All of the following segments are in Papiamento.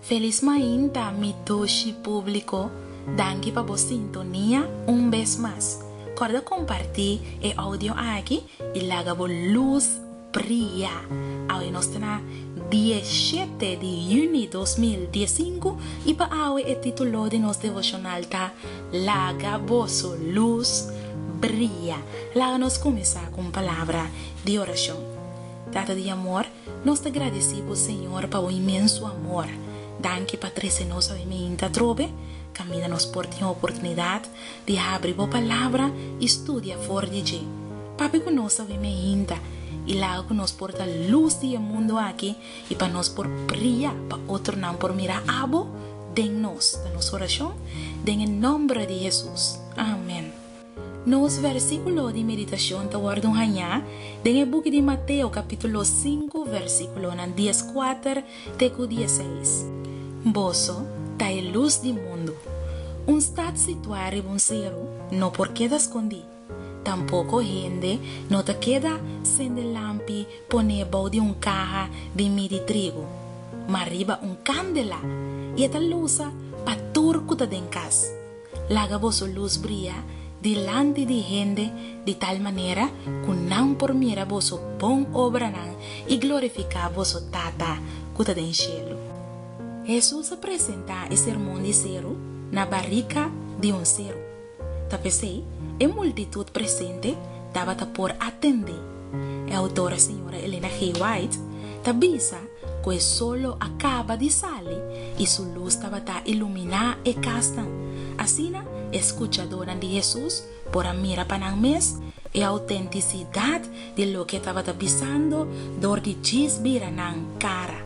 Felis mainta mi doshi publico, danki pa bo sintonia un bes mas. Corda comparti e audio aki y laga bo luz bria. Awe nos ta na diecisiete di juni dos mil diescinco y pa awe e titulo di nos devocional ta Laga boso luz bria. Laga nos cuminsa cu un palabra di oracion. Tata di amor, Nos ta gradisí bo Señor pa bo inmenso amor. Danki pa trese nos awe miinta atrobe. Kaminda nos por tin oportunidat di habri bo Palabra i studia for di dje, papia ku nos awe miinta i laga ku nos por ta lus di e mundu aki i pa nos por bria pa otronan por mira abo den nos, ta nos orashon den e nòmber di Hesus. Amen. Nos versíkulo di meditashon ta wòrdu hañá den e buki di Mateo kapítulo sinku versíkulonan dies kuater te ku dies seis. Boso ta e lus di mundu. Un stat situá riba un seru no por keda skondí, tampoko hende no ta keda sende lampi pon'é bou di un kaha di midi trigu, ma riba un kandela, i e ta lusa pa tur ku ta den kas. Laga boso lus bria dilanti di hende di tal manera ku nan por mira boso bon obranan i glorifiká boso Tata ku ta den shelu. Hesus a presentá e sermon di seru na barika di un seru, ta p'esei e multitut presente tabata por atendé. E autora señora Elena G. White ta bisa ku e sol lo a kaba di sali i su lus tabata iluminá e kasnan. Asina e skuchadónan di Hesus por a mira pa nan mes e outentisidat di loke e tabata bisando dor di djis bira nan kara,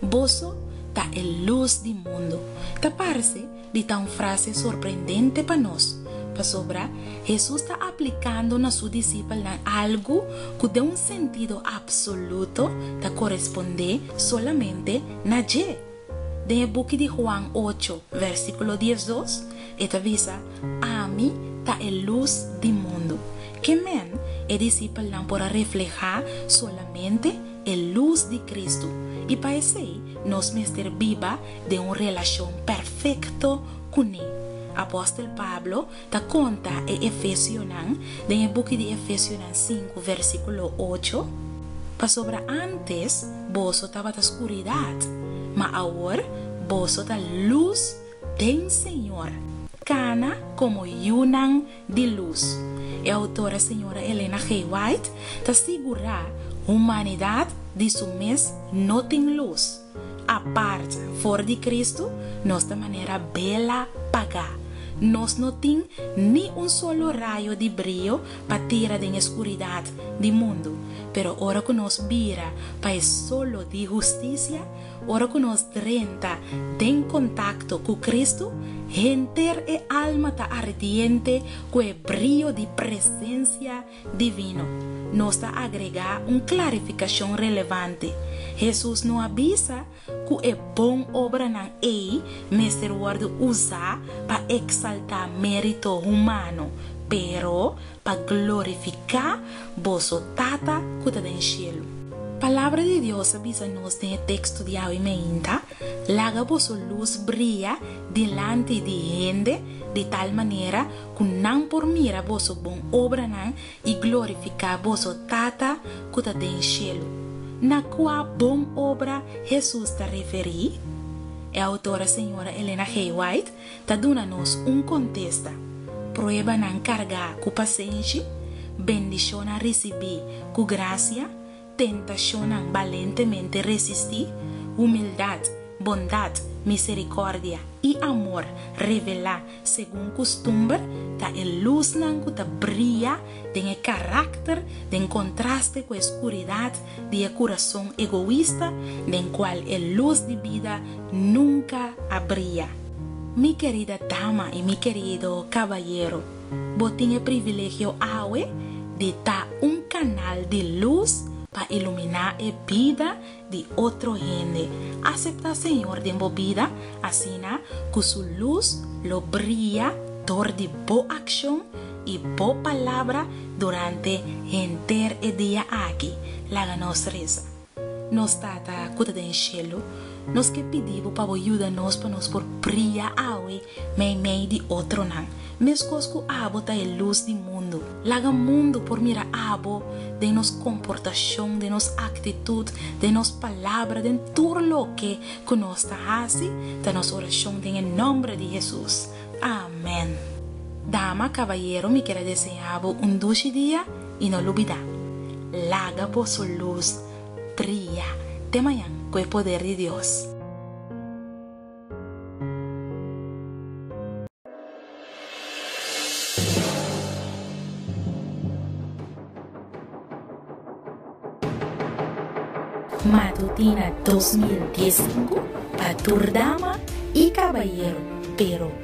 Boso ta e lus di mundu. Ta parse di ta un frase sorprendente pa nos, pasobra Hesus ta aplikando na su disipelnan algu ku den un sentido apsoluto ta korespondé solamente na dje. Den e buki di Huan ocho, vèrsikulo diesdos, e ta bisa, Ami ta e lus di mundu. Ke men, e disipelnan por a reflehá solamente e lus di Kristu, i pa esei nos mester biba den un relashon perfekto kuné. Apòstel Pablo ta konta e efesionan den e buki di Efesionan sinku vèrsikulo ocho, Pasobra ántes boso tabata skuridat, ma awor boso ta lus den Señor, kana komo yunan di lus. E outora señora Elena G. White ta sigurá humanidat di su mes no tin lus. Apart for di Cristo, nos ta manera bela pagá. Nos no tin ni un solo rayo di brio pa tira den e skuridat di mundu. Pero ora ku nos bira pa e solo di hustisia, ora ku nos drenta den kontakto ku Cristo, henter e alma ta ardiente ku e brio di presensia Divino. Nos ta agregá un klarifikashon relevante, Hesus no a bisa ku e bon obranan ei mester wòrdu usá pa eksaltá mérito humano, pero pa glorifiká boso Tata ku ta den shelu. Palabra di Dios a bisa nos den e teks studiá hoy mainta Laga boso lus bria dilanti di hende di tal manera ku nan por mira boso bon obranan i glorifiká boso Tata ku ta den shelu. Na kua bon obra Hesus ta referí? E outora señora Elena Gay White ta duna nos un kontesta, Pruebanan kargá ku pasenshi, bendishonnan risibí ku grasia, tentashonnan balentemente resistí, humildat, bondat, miserikòrdia i amor revelá segun kustumber ta e lusnan ku ta bria den e karakter den kontraste ku e skuridat di e kurason egoista den kual e lus di bida nunka a bria. Mi kerida dama i mi kerido kabayero, Bo tin e privilegio awe di ta un kanal di lus pa iluminá e bida di otro hende. Aseptá Señor den bo bida asina ku su lus lo bria dor di bo akshon i bo palabra durante henter e dia aki. Laga nos resa. Nos Tata ku ta den shelu, nos ke pidi bo pa bo yuda nos pa nos por bria awe meimei di otronan, meskos ku abo ta e lus di mundu. Laga mundu por mira abo den nos komportashon, den nos aktitut, den nos palabra, den tur loke ku nos ta hasi, ta nos orashon den e nòmber di Hesus. Amèn. Dama, kabayero, mi keda deseá bo un dushi dia. y no lubida, Laga boso luz bria te mañan cu e poder di Dios. Matutina dos mil dies i sinku pa tur dama i cabayero, pero.